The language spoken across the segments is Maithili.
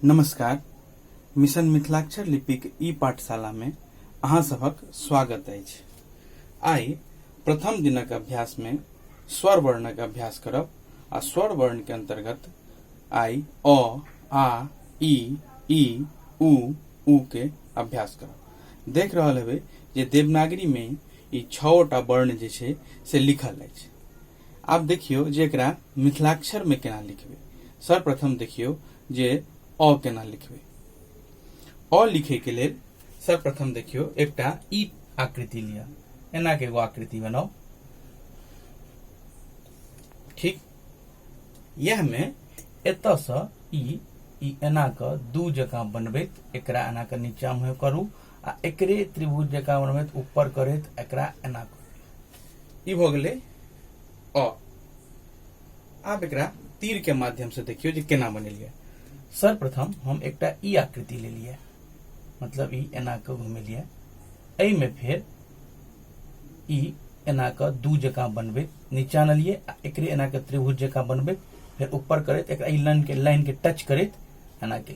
नमस्कार मिशन मिथिलाक्षर लिपिक ई पाठशाला में अहाँ सभक स्वागत अछि आइ प्रथम दिनक अभ्यास में स्वर वर्णक अभ्यास करब आ स्वर वर्ण के अंतर्गत आइ अ आ ई ई उ उ के अभ्यास करब देख रहल हेबै जे देवनागरी में ई छओटा वर्ण जे छै से लिखल अछि आब देखियौ जे एकरा मिथिलाक्षर मे केना लिखबै। सर्वप्रथम देखियौ जे अ केना लिखबै। अ लिखै के लेल सर्वप्रथम देखियौ एकटा ई आकृति लिअ। एना के एगो आकृति बनाउ। ठीक यह में एत से ई ई एना के दू जकां बनबैत एकरा एना के नीचा में करू आ एकरे त्रिभुज जकां बनबैत ऊपर करैत एकरा एना करू ई भऽ गेलै अ आब एकरा तीर के माध्यम से देखियो जे केना बनेलियै सर्वप्रथम हम एकटा ई आकृति लेलियै मतलब ई एना कऽ घुमेलियै एहिमे फेर ई एना कऽ दू जकाँ बनबैत नीचा अनलियै आ एकरे एना कऽ त्रिभुज जकाँ बनबैत फेर ऊपर करैत एकरा ई लाइन के लाइन के टच करैत एना के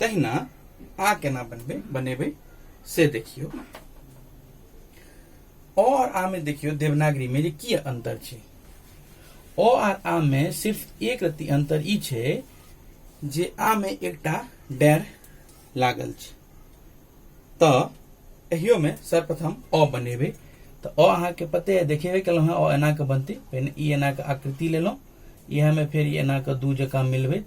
तहिना आ केना बनबै बनेबै से देखियौ अ और आ में देखियो देवनागरी में जे की अंतर छै अ आर आ में सिर्फ एक रत्ती अंतर ई छै जे आ में एकटा डैर लागल छै तऽ एहियो में सर्वप्रथम अ बनेबै तऽ अ अहाँके पते है देखेबे केलहुँ हँ अ एना कऽ बनतै पहिने ई एना कऽ आकृति लेलहुँ इएहमे फेर ई एना कऽ दू जकाँ मिलबैत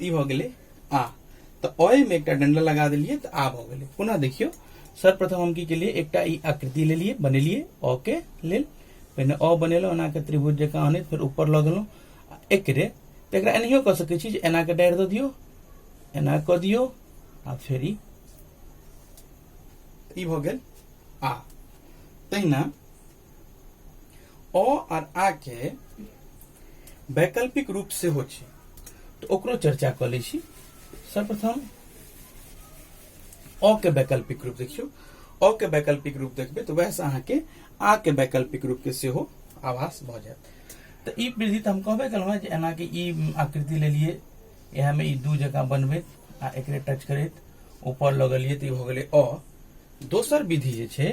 ई भऽ गेलै आ तऽ अय में एकटा डंडा लगा देलियै तऽ आ भऽ गेलै पुनः देखियौ सर्वप्रथम हम की केलियै एकटा ई आकृति लेलियै बनेलियै अ के लेल पहिने अ बनेलहुँ एना के त्रिभुज जकाँ अनैत फेर ऊपर लऽ गेलहुँ आ एकरे तऽ एकरा एनाहियो कऽ सकैत छी जे एना के डारि दऽ दियौ एना कऽ दियौ आ फेर ई ई भऽ गेल आ तहिना अ आर आ के वैकल्पिक रूप से हो छै तो ओकरो चर्चा कर लै छी सर्वप्रथम अ के वैकल्पिक रूप देखियो अ के वैकल्पिक रूप देखबे तो वैसे अहाँ के आ के वैकल्पिक रूप के सेहो आभास भ जायत तो ई वृद्धि तो हम कहबे कल हूँ एना कि ई आकृति ले लिए यह में ई दू जगह बनबे आ एक टच करत ऊपर लगलिए तो ई भ गेलै अ दोसर विधि जे छै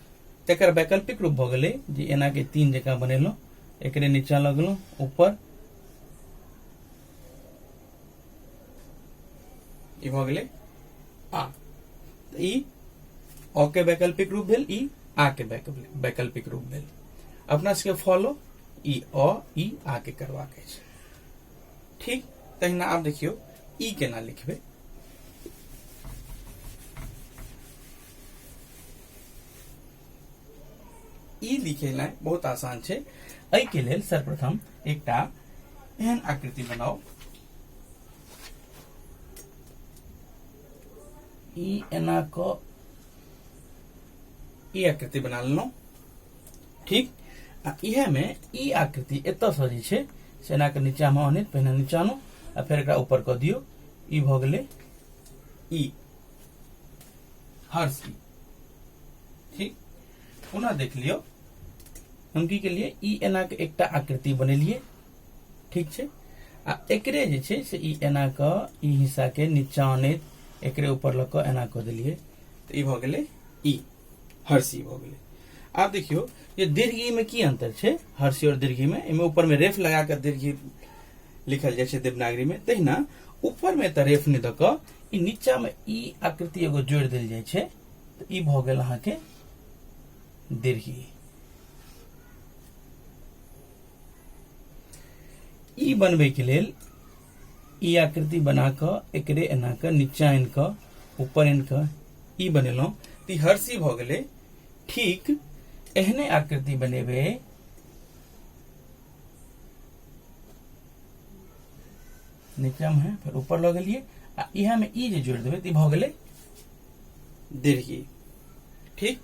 तकर वैकल्पिक रूप भऽ गेलै जे एना के तीन जकाँ बनेलहुँ एकरे नीचा लऽ गेलहुँ ऊपर ई भऽ गेलै आ ई अ के वैकल्पिक रूप भेल ई आ के वैकल्पिक रूप भेल अपना सबके फॉलो ई अ ई आ के करबाक अछि ठीक तहिना आब देखियौ ई केना लिखबै ई लिखेनाइ बहुत आसान छै एहिके लेल सर्वप्रथम एकटा एहन आकृति बनाउ ई एना क ई आकृति बना लेलहुँ ठीक आ इहे में ई आकृति एत से जे छै से एना के नीचा में आनैत पहिने नीचा आनू आ फेर एकरा ऊपर क दियौ ई भ गेलै ई हर्ष की ठीक पुनः देख लियो उनकी के लिए ई एना के एकटा आकृति बनेलिए ठीक छे आ एकरे जे छे से ई एना के ई हिस्सा के नीचा ने एकरे ऊपर लग के एना कर दिलिए तो ई भ गेले ई हर्षी भ गेले आप देखियो ये दीर्घी में की अंतर छे हर्षी और दीर्घी में इमे ऊपर में रेफ लगा कर दीर्घी लिखल जाए देवनागरी में तहिना ऊपर में तो रेफ नहीं दक ई नीचा में ई आकृति एगो जोड़ दिल जाए छे तो ई भ गेल अहा के दीर्घी ई बनबे के लेल ई आकृति बना क एकरे एना क नीचा आनि क ऊपर आनि क ई बनेलहुं तो ई हर्षी भ गेले ठीक एहने आकृति बनेबे नीचे हम है फिर ऊपर लऽ गेलियै आ इहा में ई जे जोड़ देबै तऽ ई भऽ गेलै दीर्घी ठीक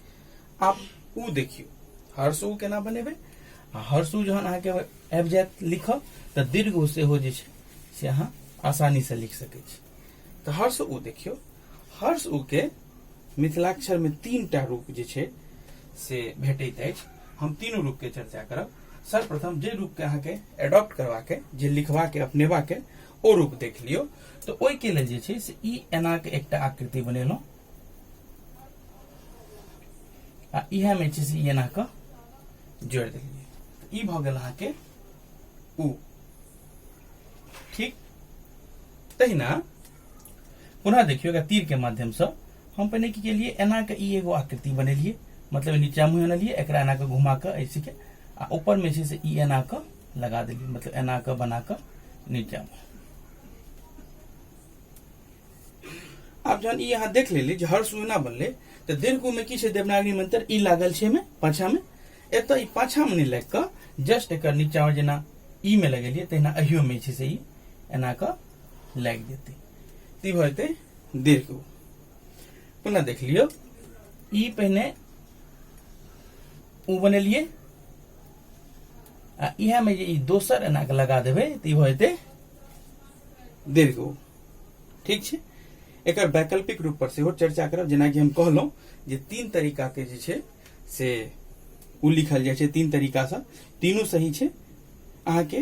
आब ऊ देखियौ हर्ष ऊ केना बनेबै आ हर्ष ऊ जहन अहाँके आबि जायत लिखब तऽ दीर्घ ऊ सेहो जे छै से अहाँ आसानी से लिख सकै छी तऽ हर्ष ऊ देखियौ हर्ष ऊ के मिथिलाक्षर में तीन टा रूप जे छै से भेटैत अछि हम तीनू रूप के चर्चा करब सर्वप्रथम जे रूप के अहाँ के एडॉप्ट करवा के जे लिखवा के अपनेवा के ओ रूप देख लियो तो ओहि के लेल जे छै से ई एना के एकटा आकृति बनेलहुँ आ इहे में छै से ई एना के जोड़ देलियै त ई भऽ गेल अहाँ के उ ठीक तहिना पुनः देखियो अगर तीर के माध्यम से हम पहले की केलिए एना के ई एगो आकृति बनेलिए मतलब नीचा मुँह अनलिए एक एना के घुमा के ऐसे के आ ऊपर में से ई एना के लगा दिलिए मतलब एना के बना के नीचा मुँह आप जहन ई यहाँ देख लेली जे हर सुना बनले तो दीर्घ में की छै देवनागरी मंत्र ई लागल छै में पाछा में एत ई पाछा में नहीं लग के जस्ट एक नीचा में जेना ई में लगेलिए तहिना अहियो में छै से ई एना के लागि जेतै तऽ ई भऽ जेतै डेढ़ के पुनः देख लियौ ई पहिने ओ बनेलियै आ इएहमे जे ई दोसर एना के लगा देबै तऽ ई भऽ जेतै डेढ़ के ठीक छै एकर वैकल्पिक रूप पर सेहो चर्चा करब जेनाकि हम कहलहुँ जे तीन तरीका के जे छै से ओ लिखल जाइ छै तीन तरीकासँ तीनू सही छै अहाँके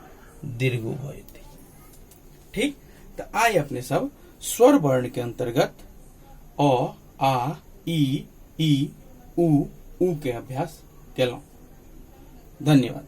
दीर्घ भऽ जेतै ठीक तऽ आइ अपने सब स्वर वर्ण के अंतर्गत अ आ ई ई उ उ के अभ्यास केलहुँ धन्यवाद